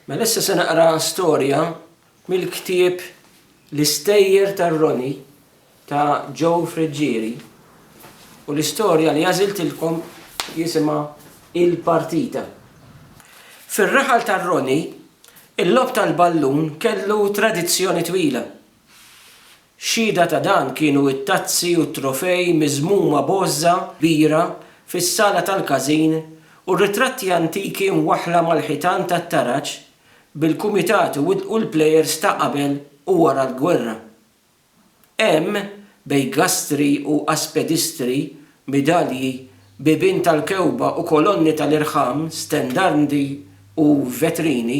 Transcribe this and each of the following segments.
Mela issa se naqra storja mill-ktieb L-Istejjer tar-Roni ta' Joe Friggieri u l-istorja li għażiltilkom jisimha Il-Partita. Fir-raħal tar-Roni, il-logħob tal-ballun kellu tradizzjoni twila. Xhieda ta' dan kienu t-tazzi u t-trofej miżmuma b'għożża kbira fis-sala tal-każin u r-ritratti antiki mwaħħla mal-ħitan tat-taraġ bil-kumitati wettqu l-plejers ta' qabel u wara l-gwerra. Hemm, bejn gastri u aspedistri, midalji, bibien tal-kewba u kolonni tal-irħam, stendardi u vetrini,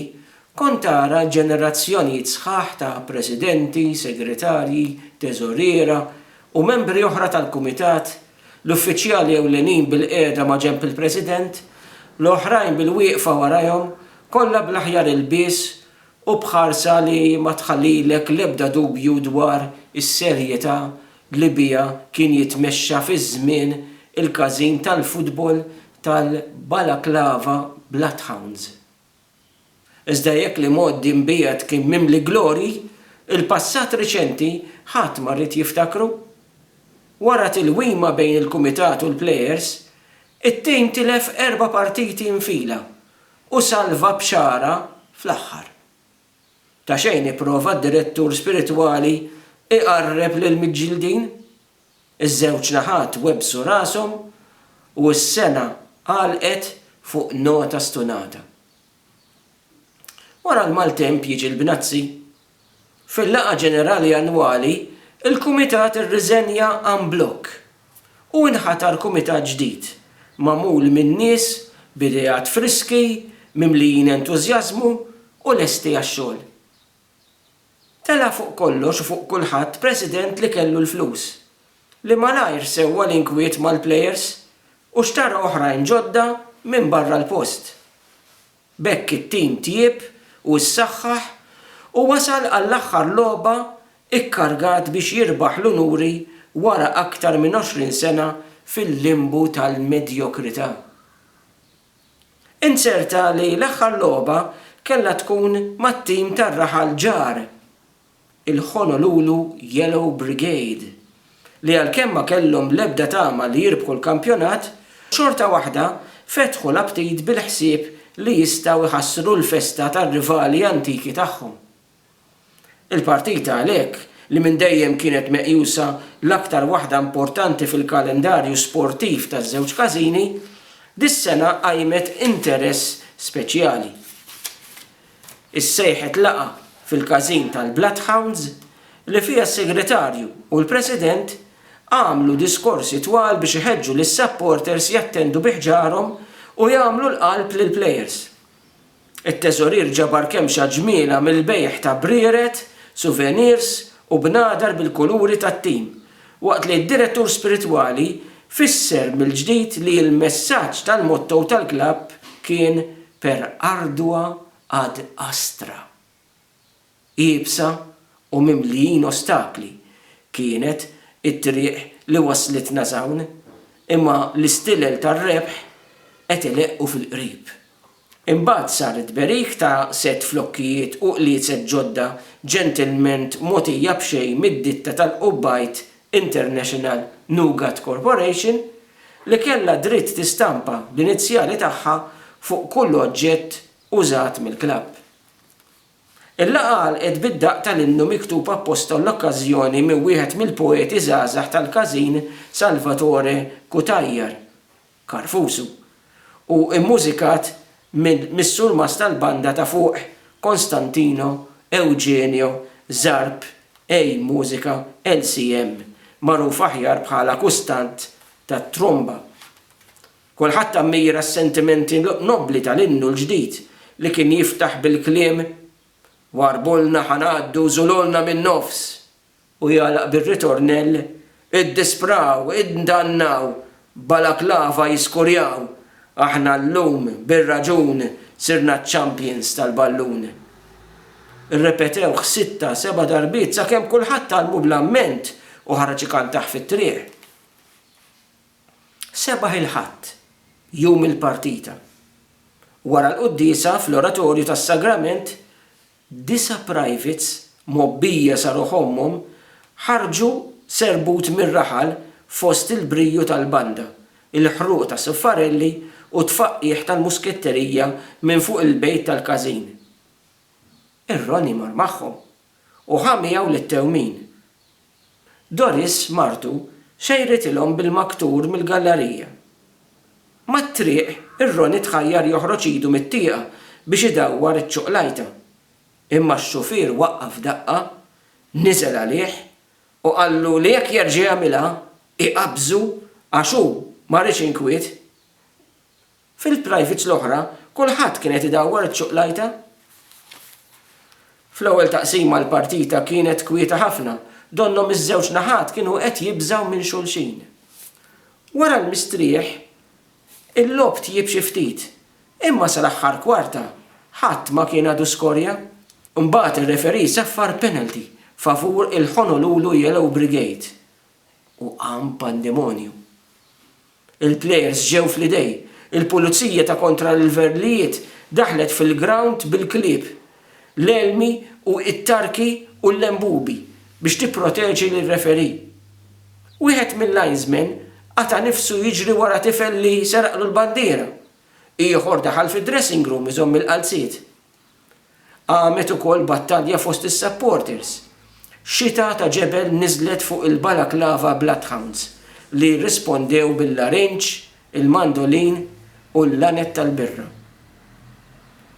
Kont tara ġenerazzjonijiet sħaħ ta' presidenti, segretarji, teżoriera, u membri oħra tal-kumitat, l-uffiċjali ewlenin bilqiegħda maġenb il-President, l-oħrajn bilwieqfa warajhom, kollha bl-aħjar ilbies u b'ħarsa li ma tħallilek l-ebda dubju dwar is-serjetà li biha kien jitmexxa fiż-żmien il-każin tal-futbol tal-Balaclava Bloodhounds. Iżda jekk l-imgħoddi mbiegħed kien mimli glorji, il-passat riċenti ħadd ma ried jiftakru. Wara tilwima bejn il-kumitat u l-plejers, it-tim tilef erba' partiti nfila u salva b'xagħra fl-aħħar. Ta' xejn ipprova d-direttur spiritwali iqarreb lill-miġġieldin. Iż-żewġ naħat webbsu rashom u s-sena għalqet fuq nota stunata. Wara l-maltemp jiġi l-bnazzi. Fil-laqgħa ġenerali annwali, il-Kumitat irriżenja en bloc u inħatar Kumitat ġdid, magħmul minn nies b'ideat friski, mimlijin entużjażmu u lesti għax-xogħol. Tela' fuq kollox u fuq kulħadd president li kellu l-flus, li malajr sewwa l-inkwiet mal-plejers u xtara oħrajn ġodda minn barra l-post. B'hekk it-tim tjieb u ssaħħaħ u wasal għall-aħħar logħba kkargat biex jirbaħ l-unuri wara aktar minn 20 sena fil-limbu tal-medjokrità. Int ser tali l-aħħar logħba kellha tkun mat-tim tar-raħal ġar, il-Honolulu Yellow Brigade, li għalkemm ma kellhom l-ebda tama li jirbħu l-kampjonat, xorta waħda fetħu l-aptit bil-ħsieb li jistgħu jħassru l-festa tar-rivali antiki tagħhom. Il-partita għalhekk, li minn dejjem kienet meqjusa l-aktar waħda importanti fil-kalendarju sportiv taż-żewġ każini, dis-sena qajmet interess speċjali. Issejħet laqgħa fil-każin tal-Bloodhounds li fiha s-Segretarju u l-President għamlu diskorsi twal biex iħeġġu lis-supporters jattendu bi ħġarhom u jagħmlu l-qalb lill-plejers. It-teżorier ġabar kemxa ġmiela mill-bejgħ ta' brieret, suvenirs u bnadar bil-kuluri tat-tim, waqt li d-direttur spiritwali fisser mill-ġdid li l-messaġġ tal-motto tal-klabb kien Per ardua ad astra. Iebsa u mimlijin ostakli kienet it-triq li wasslitna s'hawn, imma l-istilel tar-rebħ qed ileqqu fil-qrib. Imbagħad sar it-tberik ta' sett flokkijiet u qliezet ġodda ġentilment mogħtija b'xejn mid-ditta tal-Qubbajt International Nougat Corporation, li kellha dritt tistampa l-inizjali tagħha fuq kull oġġett użat mill-klabb. Il-laqgħa għalqet bid-daqq tal-innu miktub apposta għall-okkażjoni minn wieħed mill-poeti żgħażagħ tal-każin Salvatore Cutajar, Karfusu, u mmużikat mis-surmast tal-banda ta' fuq Konstantino Eugenio Zarb ej Musica LCM, magħruf aħjar bħala Kustant tat-Tromba. Kulħadd ammira s-sentimenti nobbli tal-innu l-ġdid li kien jiftaħ bil-kliem Warbulna ħa ngħaddu żulolna min-nofs u jagħlaq bir-ritornell Iddispraw, iddannaw, balaklava jiskurjaw, aħna llum bir-raġun sirna ċ-champions tal-ballun. Irrepetewh sitta, seba' darbiet sakemm kulħadd għallmu bl-amment u ħareġ ikantah fit-triq. Sebaħ il-Ħadd, jum il-partita. Wara l-quddiesa, fl-Oratorju tas-Sagrament, disa' privates mgħobbija sa ruħ ommhom ħarġu serbut mir-raħal fost il-briju tal-banda, il-ħruq ta' suffarelli u t-tfaqqigħ tal-musketterija minn fuq il-bejt tal-każin. Ir-Roni mar magħhom u ħa miegħu lit-tewmin. Doris, martu, xejritilhom bil-maktur mill-gallarija. Mat-triq, ir-roni tħajjar joħroġ idu mit-tieqa biex idawwar iċ-ċoqlajta. Imma x-xufier waqqaf daqqa, niżel għalih u qallu li jekk jerġa' jagħmilha, iqabbżu għax hu ma riex inkwiet. Fil-privates l-oħra, kulħadd kien qed idawwar iċ-ċuqlajta. Fl-ewwel taqsima l-partita kienet kwieta ħafna, donnhom iż-żewġ naħat kienu qed jibżgħu minn xulxin. Wara l-mistrieħ, il-logħob tjieb xi ftit, imma sal-aħħar kwarta ħadd ma kien għadu skorja. Imbagħad ir-referee saffar penalty favur il-Honolulu Yellow Brigade u qam pandemonju. Il-plejers ġew fl-idej. Il-pulizija ta' kontra l-verlijiet daħlet fil-grawnd bil-klieb, l-elmi u it-tarki u l-lembubi biex tipproteġi lir-referee. Wieħed mil-linesmen qata' nifsu jiġri wara tifel li seraqlu l-bandiera. Ieħor daħal fid-dressing room iżomm il-qalziet. Qamet ukoll battalja fost is-supporters. Xita ta' ġebel niżlet fuq il-Balaclava Bloodhounds li rrispondew bil-larinġ, il-mandolin u l-laned tal-birra.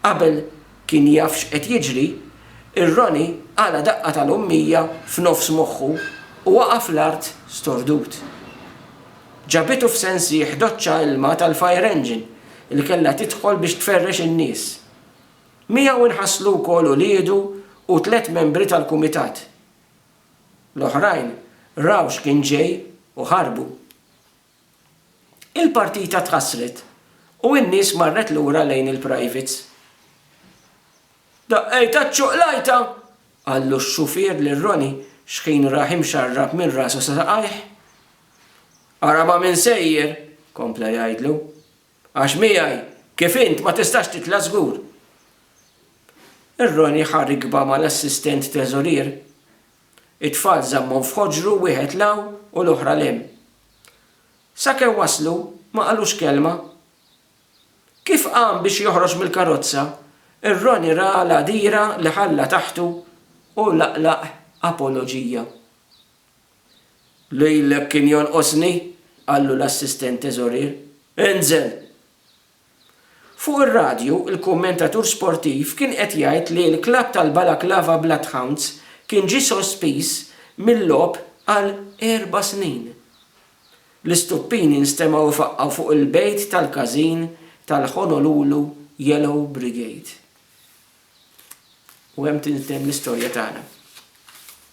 Qabel kien jaf x'qed jiġri, ir-Ronnie qala' daqqa tal-ummija f'nofs moħħu u waqa' fl-art stordut. Ġabitu f'sensih doċċa ilma tal-fire engine li kellha tidħol biex tferrex in-nies. Miegħu nħasslu wkoll uliedu u tliet membri tal-kumitat. L-oħrajn raw x'kien ġej u ħarbu. Il-partita tħassret u n-nies marret lura lejn il-privates. Daqqejtha ċ-ċuqlajta! qallu x-xufier lil Ronnie xħin rah imxarrab minn rasu sa saqajh. Ara ma' min sejjer! kompla jgħidlu. Għax miegħi kif int ma tistax titla' żgur. Ir-Roni ħa rikba mal-assistent treżorier. It-tfal żammhom f'ħoġru wieħed 'l hawn u l-oħra 'l hemm. Sakemm waslu ma qalux kelma. Kif qam biex joħroġ mill-karozza, ir-Roni ra l-għadira li ħalla taħtu u laqlaq apoloġija. Lilek kien jonqosni, qallu l-assistent teżorier. Inżel! Fuq ir-radju, il-kummentatur sportiv kien qed jgħid li l-klabb tal-Balaklava Bloodhounds kien ġie sospiż mil-logħob għal erba' snin. L-istuppini nstemgħu jfaqqgħu fuq il-bejt tal-każin tal-Honolulu Yellow Brigade. U hemm tintemm l-istorja tagħna.